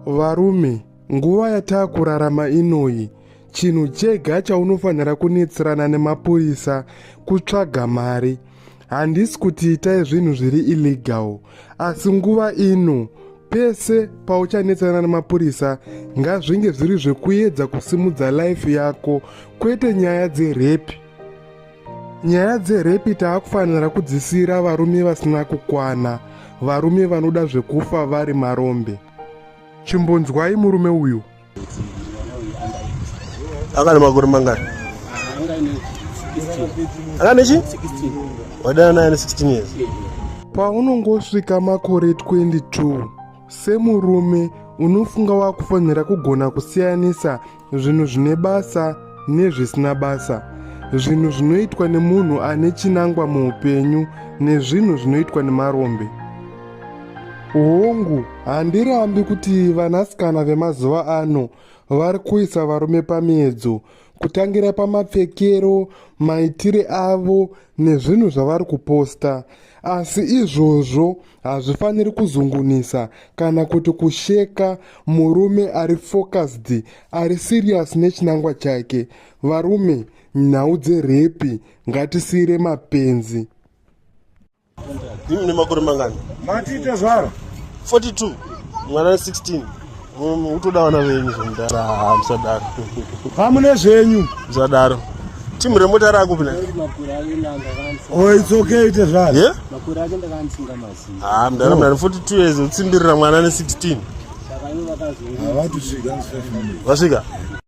Varume, nguva yatakurarama inoyi, chinhu chega chaunofanira kunetserana nemapurisa kutsvaga mari. Handisi kuti itai zvinhu zviri illegal, asi nguva ino pese pauchanetsana nemapurisa ngazvinge zviri zvekuedza kusimudza life yako kwete nyaya dzerepi nyaya dzerepi taakufanira kudzisiyira varume vasina kukwana varume vanoda zvekufa vari marombe chimbonzwai murume uyu akane makore mangani akane chi wadana naye ne 16 years paunongosvika makore 22 semurume unofunga wakufanira kugona kusiyanisa zvinhu zvine basa nezvisina basa zvinhu zvinoitwa nemunhu ane chinangwa muupenyu nezvinhu zvinoitwa nemarombe hongu handirambi kuti vanasikana vemazuva ano vari kuisa varume pamiedzo kutangira pamapfekero maitire avo nezvinhu zvavari kuposta asi izvozvo hazvifaniri kuzungunisa kana kuti kusheka murume ari focused ari serious nechinangwa chake varume nhau dzerepi ngatisiire mapenzi imi nemakore mangani matiite zvaro 42 mwana 16 utoda vana venyu zvomudara musadaro hamune zvenyu musadaro timu remota rakupi na oh, it's okay ite zvaro yeah? ha mudara mudara 42 years utsimbirira mwana ne 16 vasvika